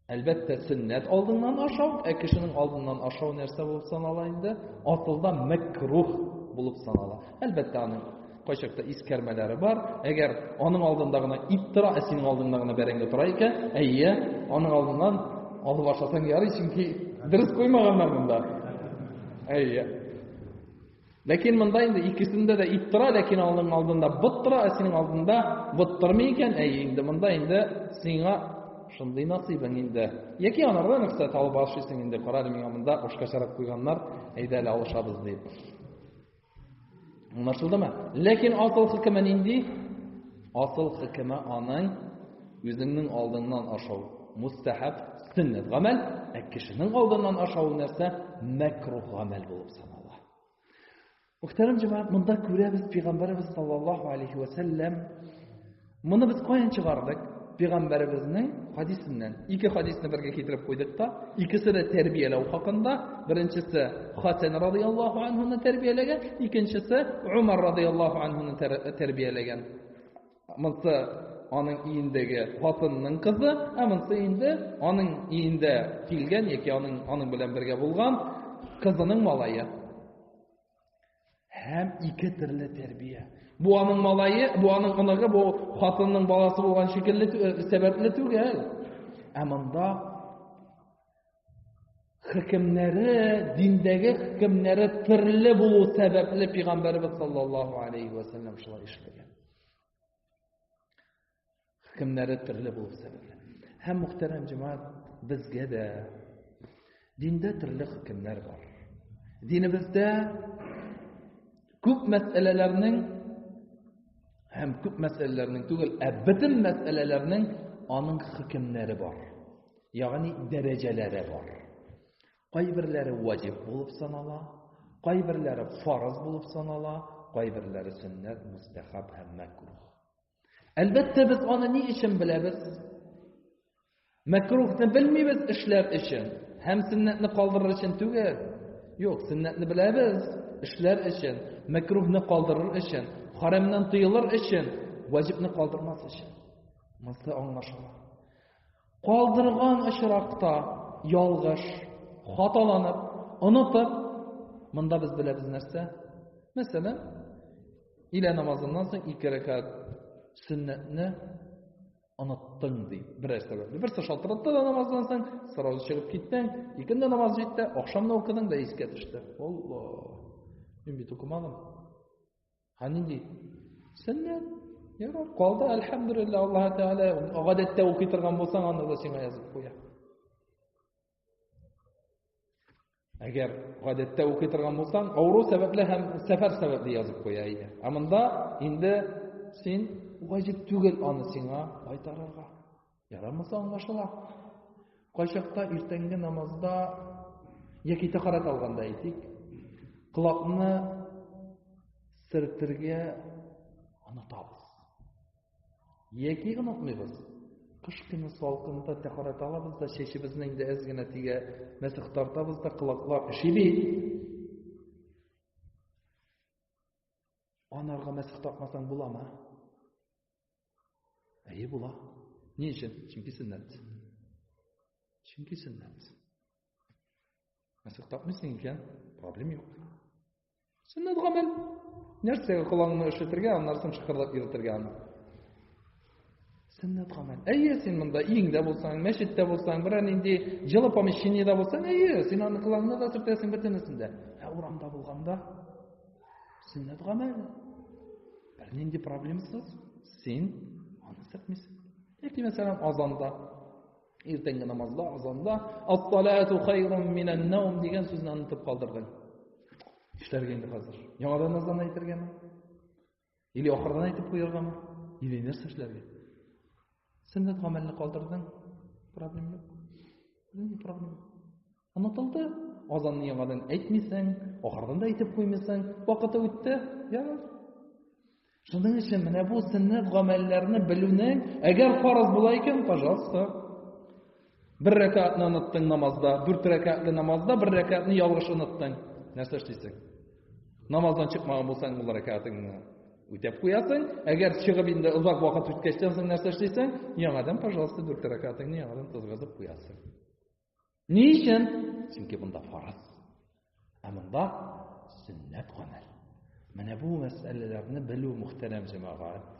Әлбәттә, сөннәт алдыннан ашау, ә кешенең алдыннан ашау нәрсә булып санала инде? Асылда мәкрух булып санала. Әлбәттә, аның кайчакта искәрмәләре бар. Әгәр аның алдында гына ит тора, ә синең алдыңда гына бәрәңге тора икән, әйе, аның алдыннан алып ашасаң ярый, чөнки дөрес куймаганнар монда. Әйе. Ләкин монда инде икесендә дә ит тора, ләкин аның алдында бот тора, ә синең алдында бот тормый икән, әйе инде монда инде сиңа шундый насыйбың инде. Яки анардан рөхсәт алып ашыйсың инде, кара әле миңа монда ашка чарап куйганнар, әйдә әле алышабыз дип. Аңлашылдымы? Ләкин акыл хөкеме нинди? Асыл хөкеме аның үзеңнең алдыңнан ашау мустәхәб, сөннәт гамәл, ә кешенең алдыннан ашавы нәрсә? Мәкрух гамәл булып санала. Мөхтәрәм җәмәгать, монда күрәбез пәйгамбәрбез саллаллаһу алейхи ва сәлләм. Моны без каян чыгардык? Пәйгамбәрбезнең хадисеннән. Ике хадисны бергә китереп куйдык та, икесе дә тәрбияләү хакында, Беренчесе Хатен радияллаху анһуны тәрбияләгән, икенчесе Умар радияллаху анһуны тәрбияләгән. Монсы аның иендәге хатынның кызы, ә монсы инде аның иендә килгән яки аның аның белән бергә булган кызының малае. Һәм ике төрле тәрбия. Бу аның малае, бу аның оныгы, бу хатынның баласы булган шикелле сәбәпле түгел. Ә монда хөкемнәре, диндәге хөкемнәре төрле булу сәбәпле пәйгамбәрбез саллаллаһу алейхи ва саллям шулай эшләгән. Хөкемнәре төрле булу сәбәпле. Һәм мөхтәрәм җәмәгать, безгә дә диндә төрле хөкемнәр бар. Динебездә күп мәсьәләләрнең һәм күп мәсьәләләрнең түгел, ә бөтен мәсьәләләрнең аның хөкемнәре бар. Ягъни дәрәҗәләре бар. Кайберләре ваҗиб булып санала, кайберләре фарыз булып санала, кайберләре сөннәт, мустахаб һәм мәкрух. Әлбәттә, без аны ни өчен беләбез? Мәкрухны белмибез эшләр өчен һәм сөннәтне калдырыр өчен түгел. Юк, сөннәтне беләбез эшләр өчен, мәкрухны калдырыр өчен, харамнан тыелыр өчен, ваҗибны калдырмас өчен. Монсы аңлашыла. Калдырган очракта, ялгыш, хаталанып, онытып, монда без беләбез нәрсә? Мәсәлән, илә намазыннан соң ике рәкәт сөннәтне оныттың ди берәр сәбәпле берсе шалтыратты да намаздан соң сразу чыгып киттең икенде намаз җитте ахшамны укыдың да искә төште алла мин бит укымадым Ә нинди? Сөннәт. Ярар, калды, әлхәмдүлилләһ, Аллаһ Тәгалә, гадәттә укый торган булсаң, аны да сиңа язып куя. Әгәр гадәттә укый торган булсаң, авыру сәбәпле һәм сәфәр сәбәпле язып куя иде. Ә монда инде син ваҗиб түгел аны сиңа кайтарырга. Ярамаса аңлашыла. Кайчакта иртәнге намазда яки тәхарат алганда әйтик, колакны сертергә онытабыз. Яки онытмыйбыз. Кыш көне салкында тәхарат алабыз да чәчебезне инде әз генә тигә мәсех тартабыз да колаклар эши бит. Анарга мәсех тартмасаң буламы? Әйе була. Ни өчен? Чөнки сөннәт. Чөнки сөннәт. Мәсәх тапмыйсың икән, проблем юк. Сөннәт гамәл. Нәрсәгә колаңны өшетергә, аннан соң шыкырлап йөртергә аны. Сөннәт гамәл. Әйе, син монда иңдә булсаң, мәчеттә булсаң, берәр нинди җылы помещениедә булсаң, әйе, син аны колаңны да сөртәсең бөтенесендә. Ә урамда булганда сөннәт гамәл. Бернинди проблемасыз син аны сәкмисең. Яки мәсәлән азанда иртәнге намазда азанда ас-салату хайрун минан наум дигән сүзне онытып калдырдың. Эшләргә инде хәзер. Яңадан азан әйтергәме? Или ахырдан әйтеп куяргамы? Или нәрсә эшләргә? Сөннәт гамәлне калдырдың, проблем юк. Нинди проблем? Онытылды. Азанны яңадан әйтмисең, ахырдан да әйтеп куймыйсың. Вакыты үтте. Яңа. Шуның өчен менә бу сөннәт гамәлләрне белүнең, әгәр фарыз була икән, пожалуйста. Бер рәкәтне оныттың намазда, дүрт рәкәтле намазда бер рәкәтне ялгыш оныттың. Нәрсә эшлисең? Намаздан чыкмаган булсаң, ул рәкәтеңне үтәп куясың. Әгәр чыгып инде озак вакыт үткәчтән соң нәрсә эшлисең? Яңадан, пожалуйста, дүрт рәкәтеңне яңадан тызгызып куясың. Ни өчен? Чөнки монда фарыз. Ә монда сөннәт гамәл. Менә бу мәсьәләләрне белү мөхтәрәм җәмәгать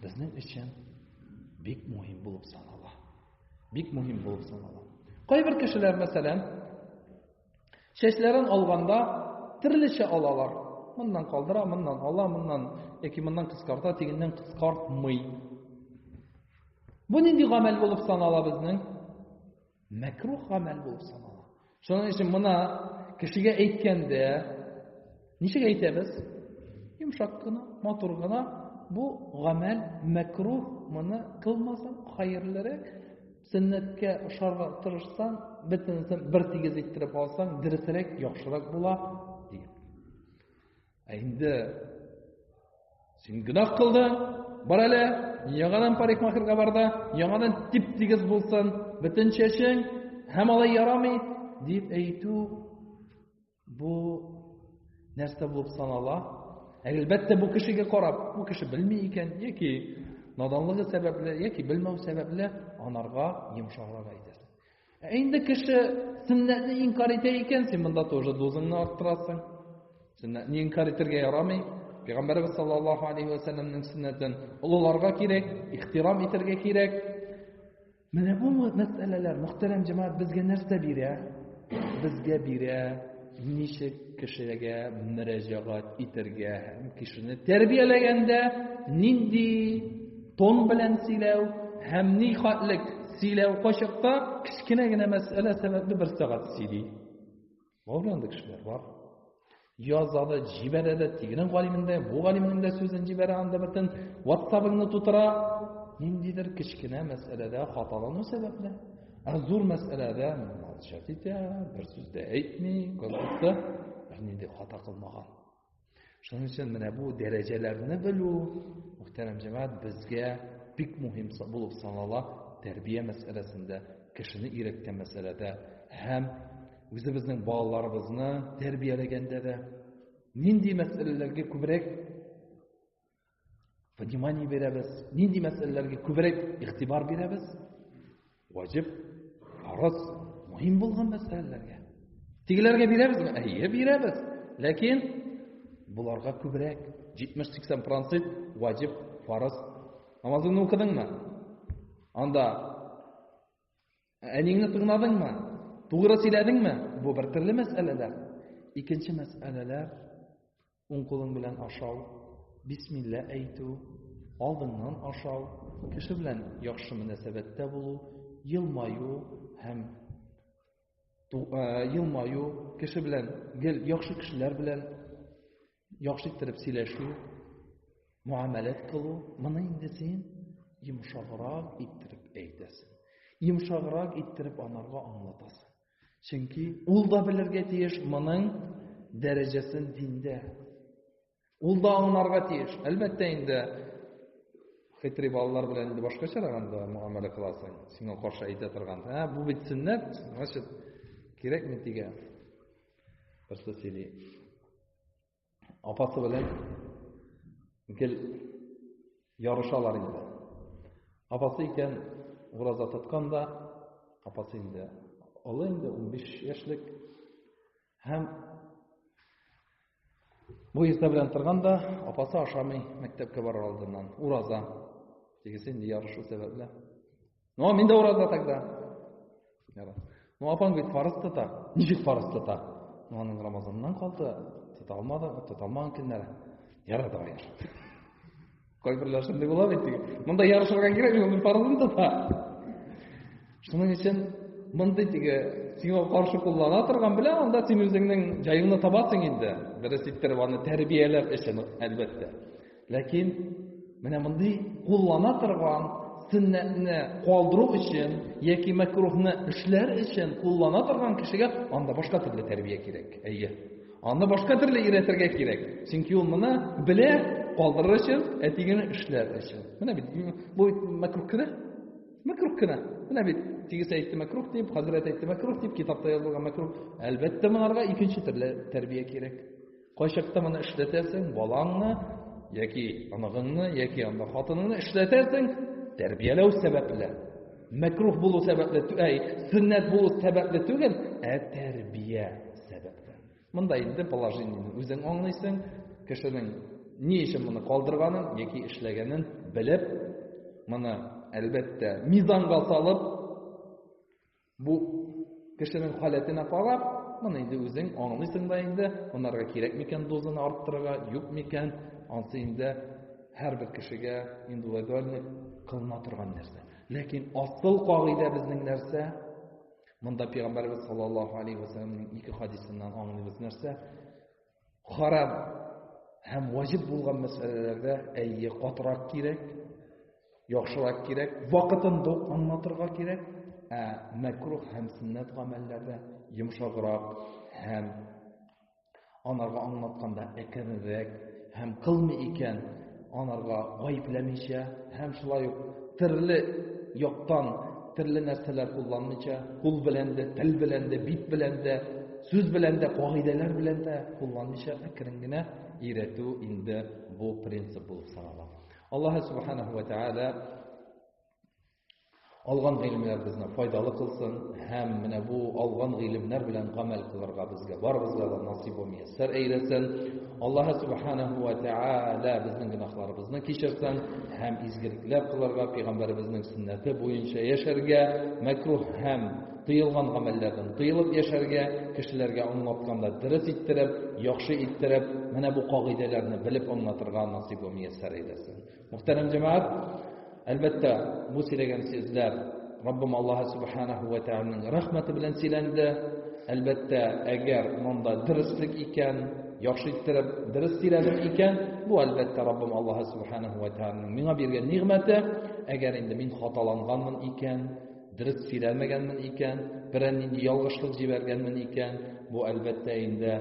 безнең өчен бик мөһим булып санала. Бик мөһим булып санала. Кайбер кешеләр, мәсәлән, Чәчләрен алганда төрлечә алалар. Моннан калдыра, моннан ала, моннан яки моннан кыскарта, тигеннән кыскартмый. Бу нинди гамәл булып санала безнең? Мәкрух гамәл булып санала. Шуның өчен моны кешегә әйткәндә, Ничек әйтәбез? Йомшак кына, матур гына бу гамәл мәкрух, моны кылмасаң хәерлерәк. Сөннәткә ошарга тырышсаң, бөтенесен бер тигез иттереп алсаң, дөресрәк, яхшырак була, ди. Ә инде син гөнаһ кылдың, бар әле, яңадан парикмахерга бар да, яңадан тип-тигез булсын, бөтен чәчең, һәм алай ярамый, дип әйтү Бу нәрсә булып санала? Әлбәттә, бу кешегә карап, бу кеше белми икән, яки наданлыгы сәбәпле, яки белмәү сәбәпле анарга йомшаграк әйтәсең. Ә инде кеше сөннәтне инкар итә икән, син монда тоже дозыңны арттырасың. Сөннәтне инкар итәргә ярамый. Пәйгамбәрбез саллаллаһу алейхи ва сәлләмнең сөннәтен олыларга кирәк, ихтирам итәргә кирәк. Менә бу мәсьәләләр, мөхтәрәм җәмәгать, безгә нәрсә бирә? Безгә бирә, ничек кешегә мөрәҗәгать итәргә һәм кешене тәрбияләгәндә нинди тон белән сөйләү һәм ни хәтлек сөйләү качакта кечкенә генә мәсьәлә сәбәпле бер сәгать сөйли. Бар бит андый кешеләр, бар. Яза да, җибәрә дә, тегенең галимен дә, бу галимнең дә сүзен җибәрә, анда бөтен WhatsApp-ыңны тутыра. Ниндидер кечкенә мәсьәләдә хаталану сәбәпле, ә зур мәсьәләдә молчать итә, бер сүз дә әйтми, как будто бернинди хата кылмаган. Шуның өчен менә бу дәрәҗәләрне белү, мөхтәрәм җәмәгать, безгә бик мөһим булып санала тәрбия мәсьәләсендә, кешене өйрәткән мәсьәләдә һәм үзебезнең балаларыбызны тәрбияләгәндә дә нинди мәсьәләләргә күбрәк внимание бирәбез нинди мәсьәләләргә күбрәк игътибар бирәбез ваҗиб фарыз мөһим булган мәсьәләләргә тегеләргә бирәбезме әйе бирәбез ләкин боларга күбрәк 70-80 процент ваҗиб фарыз намазыңны укыдыңмы анда әниңне тыңладыңмы тугры сөйләдеңме бу бер төрле мәсьәләләр икенче мәсьәләләр Уң кулың белән ашау, бисмилла әйтү, алдыңнан ашау, кеше белән яхшы мөнәсәбәттә булу, елмаю һәм елмаю, кеше белән гел яхшы кешеләр белән яхшы иттереп сөйләшү, муамәләт кылу, моны инде син йомшаграк иттереп әйтәсең. Йомшаграк иттереп анарга аңлатасың. Чөнки ул да белергә тиеш моның дәрәҗәсен диндә. Ул да аңларга тиеш. Әлбәттә инде хитрый балалар белән инде башкачарак анда муамәлә кыласың. Сиңа каршы әйтә торган. Ә бу бит сөннәт, значит, кирәкме тигә? Просто сөйли. апасы белән гел ярышалар инде. Апасы икән ураза тоткан да, апасы инде олы инде 15 яшьлек һәм бу иртә белән торган да апасы ашамый мәктәпкә барыр алдыннан ураза тегесе инде ярышу сәбәпле Ну, а мин дә ураза тогда. Ну, апаң бит фарыз тота. Ничек фарыз тота? Ну, аның Рамазаннан калды. Тота алмады, тота алмаган көннәре. Ярар, давай. Кайберләр шундый була бит. Монда ярышырга кирәк, мин фарызын тота. Шуның өчен мондый теге сиңа каршы куллана торган белән анда син үзеңнең җаеңны табасың инде. Дөрес иттереп аны тәрбияләп өчен, әлбәттә. Ләкин менә мондый куллана торган сөннәтне калдыру өчен яки мәкрухны эшләр өчен куллана торган кешегә анда башка төрле тәрбия кирәк. Әйе. Аны башка төрле өйрәтергә кирәк. Чөнки ул моны белә, калдырыр өчен, әтигене эшләр өчен. Менә бит бу бит мәкрух кенә. Мәкрух кенә. Менә бит тигез әйтте мәкрух дип, хәзрәт әйтте мәкрух дип, китапта язылган мәкрух. Әлбәттә, монарга икенче төрле тәрбия кирәк. Кайчакта моны эшләтәсең, балаңны яки оныгыңны, яки анда хатыныңны эшләтәсең, тәрбияләү сәбәпле. Мәкрух булу сәбәпле, әй, сөннәт булу сәбәпле түгел, ә тәрбия сәбәпле. Монда инде положениене үзең аңлыйсың, кешенең ни өчен моны калдырганын яки эшләгәнен белеп, моны әлбәттә мизанга салып, Бу кешенең халәтенә карап, моны инде үзең аңлыйсың да инде, монарга кирәк микән дозаны арттырырга, юк микән, ансы инде һәрбер кешегә индивидуальный кылына торган нәрсә. Ләкин асыл кагыйдә безнең нәрсә? Монда Пәйгамбәрбез саллаллаһу алейхи ва саллямның ике хадисыннан аңлыйбыз нәрсә? Харам һәм ваҗиб булган мәсьәләләрдә әйе катырак кирәк, яхшырак кирәк, вакытында ук аңлатырга кирәк, ә мәкрух һәм сөннәт гамәлләрдә йомшаграк һәм анарга аңлатканда әкренрәк һәм кылмый икән анарга гаепләмичә һәм шулай ук төрле яктан төрле нәрсәләр кулланмыйча, кул белән дә, тел белән дә, бит белән дә, сүз белән дә, кагыйдәләр белән дә кулланмыйча әкрен генә өйрәтү инде бу принцип булып санала. Аллаһ субханаһу ва тааля Алган гыйлемнәребезне файдалы кылсын һәм менә бу алган гыйлемнәр белән гамәл кылырга безгә барыбызга да насыйп ва мияссәр әйләсен. Аллаһы субханаһу ва тааля безнең гөнаһларыбызны кичерсен һәм изгелекләр кылырга, пәйгамбәребезнең сөннәте буенча яшәргә, мәкруһ һәм тыелган гамәлләрдән тыелып яшәргә, кешеләргә аңлатканда дөрес иттереп, яхшы иттереп, менә бу кагыйдәләрне белеп аңлатырга насыйп ва мияссәр әйләсен. Мөхтәрәм җәмәгать, әлбәттә, бу сөйләгән сүзләр Раббым Аллаһ субханаһу ва тааляның рәхмәте белән сөйләнде. Әлбәттә, әгәр монда дөреслек икән, яхшы иттереп дөрес сөйләдем икән, бу әлбәттә Раббым Аллаһ субханаһу ва тааляның миңа биргән нигъмәте. Әгәр инде мин хаталанганмын икән, дөрес сөйләмәгәнмен икән, берәр нинди ялгышлык җибәргәнмен икән, бу әлбәттә инде